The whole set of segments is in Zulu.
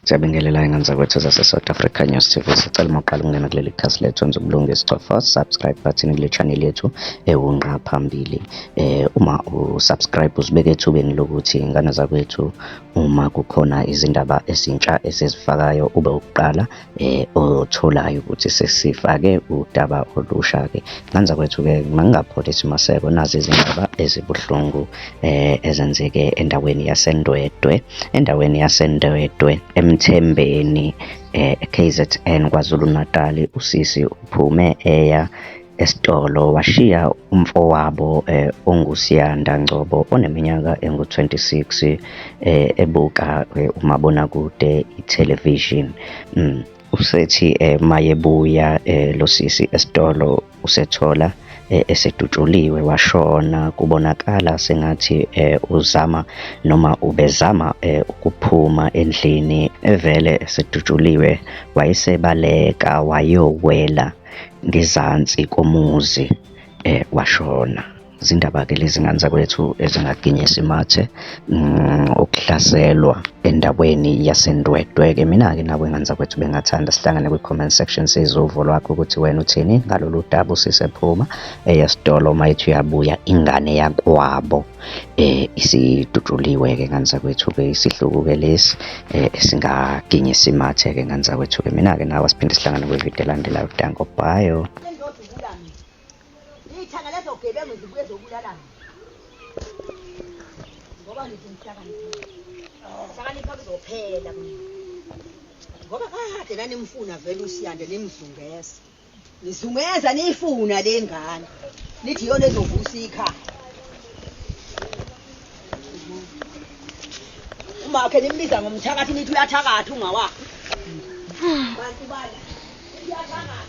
Siyabingelela ingane zakwethu zase South Africa News TV. Sicela uma uqala ukungena kuleli khasi lethu wenza ubulunge isicofa subscribe button kule channel yethu ewunqa phambili. Eh uma u subscribe usibeke ethubeni lokuthi ingane zakwethu uma kukhona izindaba ezintsha esizifakayo ube ukuqala eh otholayo ukuthi sesifake udaba olusha ke. Ingane zakwethu ke mangingapholi simaseko nazi izindaba ezibuhlungu eh ezenzeke endaweni yaseNdwedwe. endaweni yaseNdwedwe eMthembeni eh, eKZN KwaZulu-Natal usisi uphume eya esitolo washiya umfowabo eh, onguSiyanda Ngcobo oneminyaka engu-26 eh, ebuka eh, umabonakude ithelevishini. Mm. usethi eh, mayebuya eh, lo sisi esitolo usethola eh, esedutshuliwe washona kubonakala sengathi eh, uzama noma ubezama eh, ukuphuma endlini evele esedutshuliwe wayesebaleka wayowela ngezansi komuzi eh, washona zindaba-ke lezi ngane zakwethu ezingaginyisa imathe mm, ukuhlaselwa endaweni yasendwedwe-ke mina-ke nabo ingane zakwethu bengathanda sihlangane kwi-comment section size uvo lwakho ukuthi wena uthini ngalolu daba usisephuma eyesitolo uma ethi uyabuya ingane yakwabo eh isidutshuliwe-ke ngane zakwethu-ke isihluku-ke lesi eh esingaginyisa imathe-ke ngane zakwethu-ke mina-ke nawe siphinde sihlangane kwividiyo elandelayo danko bio Iy'thanga lezo gebengu zibuye zokulalana. Ngoba ngithi ngihlakanipha. Ngihlakanipha kuzophela mina. Ngoba kade nanimfuna vele uSiyanda nimzungeza. Nizungeza niyifuna le ngane. Nithi yona ezovusa ikhaya. Umakhe nimbiza ngomthakathi nithi uyathakatha ungawakhe. Bantu bala. Uyathakatha.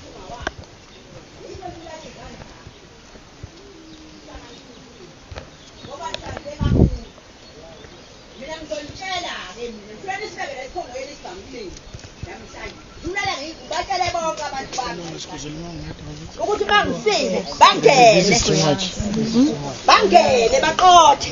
ukuthi bangisile bangene bangene baqothe